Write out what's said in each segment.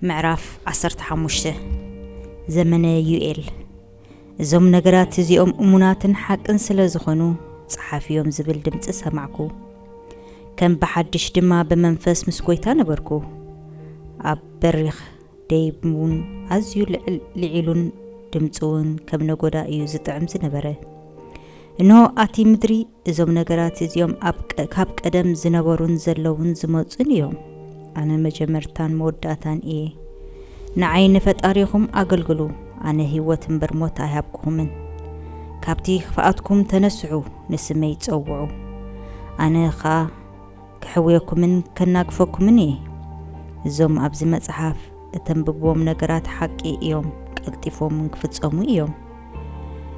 ምዕራፍ ዓሰርተ ሓሙሽተ ዘመነ ዩኤል እዞም ነገራት እዚኦም እሙናትን ሓቅን ስለ ዝኾኑ ጸሓፍዮም ዝብል ድምፂ ሰማዕኩ። ከም ብሓድሽ ድማ ብመንፈስ ምስ ጎይታ ነበርኩ። ኣብ በሪኽ ደይብ እውን ኣዝዩ ልዒሉን ድምፁ እውን ከም ነጎዳ እዩ ዝጥዕም ዝነበረ። እንሆ ኣቲ ምድሪ እዞም ነገራት እዚኦም ካብ ቀደም ዝነበሩን ዘለዉን ዝመጹን እዮም። ኣነ መጀመርታን መወዳእታን እየ። ንዓይ ንፈጣሪኹም ኣገልግሉ፣ ኣነ ህይወት እምበር ሞት ኣይሃብኩኹምን። ካብቲ ክፍኣትኩም ተነስሑ፣ ንስመይ ጸውዑ፣ ኣነ ኸኣ ከሕውየኩምን ከናግፈኩምን እየ። እዞም ኣብዚ መጽሓፍ እተንብብዎም ነገራት ሓቂ እዮም፣ ቀልጢፎም እውን ክፍጸሙ እዮም።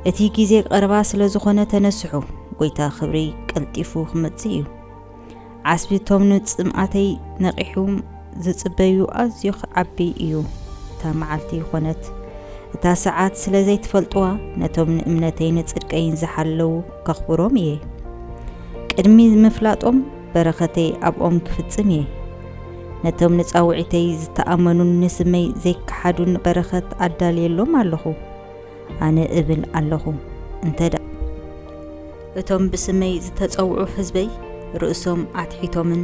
እቲ ግዜ ቀረባ ስለ ዝኾነ ተነስሑ፣ ጎይታ ክብሪ ቀልጢፉ ክመጽእ እዩ። ዓስቢ እቶም ንጽምኣተይ ነቒሑም ዝጽበዩ ኣዝዩ ክዓቢ እዩ። እታ መዓልቲ ይኾነት እታ ሰዓት ስለ ዘይትፈልጥዋ ነቶም ንእምነተይ ንጽድቀይን ዝሓለዉ ከኽብሮም እየ። ቅድሚ ምፍላጦም በረኸተይ ኣብኦም ክፍጽም እየ። ነቶም ንጻውዒተይ ዝተኣመኑን ንስመይ ዘይከሓዱን በረኸት ኣዳልየሎም ኣለኹ። ኣነ እብል ኣለኹ እንተ እቶም ብስመይ ዝተጸውዑ ህዝበይ ርእሶም ኣትሒቶምን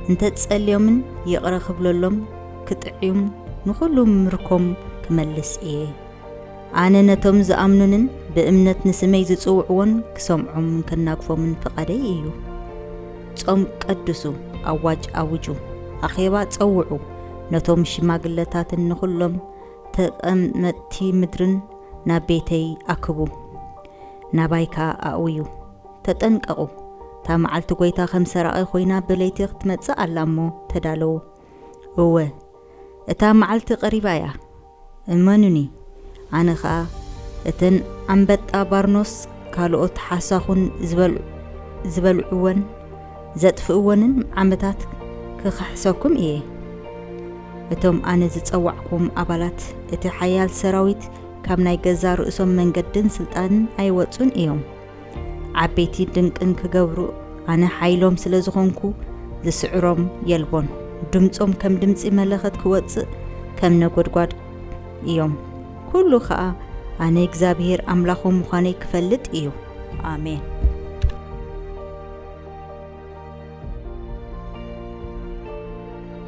እንተጸልዮምን ይቕረ ክብለሎም ክጥዕዩም ንኹሉ ምርኮም ክመልስ እየ። ኣነ ነቶም ዝኣምኑንን ብእምነት ንስመይ ዝጽውዕዎን ክሰምዖምን ከናግፎምን ፍቓደይ እዩ። ጾም ቀድሱ፣ ኣዋጅ ኣውጁ፣ ኣኼባ ጸውዑ፣ ነቶም ሽማግለታትን ንዅሎም ተቐመጥቲ ምድርን ናብ ቤተይ ኣክቡ፣ ናባይ ከኣ ኣእውዩ። ተጠንቀቑ፣ እታ መዓልቲ ጐይታ ከም ሰራቒ ዀይና ብለይቲ ኽትመጽእ ኣላ እሞ፣ ተዳለዉ። እወ፣ እታ መዓልቲ ቐሪባ እያ፣ እመኑኒ ኣነ ከኣ እተን ኣንበጣ ባርኖስ ካልኦት ሓሳኹን ዝበልዕወን ዘጥፍእወንን ዓመታት ክኽሕሰኩም እየ። እቶም ኣነ ዝጸዋዕክዎም ኣባላት እቲ ሓያል ሰራዊት ካብ ናይ ገዛእ ርእሶም መንገድን ስልጣንን ኣይወጹን እዮም። ዓበይቲ ድንቅን ክገብሩ ኣነ ሓይሎም ስለ ዝኾንኩ ዝስዕሮም የልቦን ድምፆም ከም ድምፂ መለኸት ክወፅእ ከም ነጎድጓድ እዮም ኩሉ ከዓ ኣነ እግዚኣብሄር ኣምላኾም ምዃነይ ክፈልጥ እዩ ኣሜን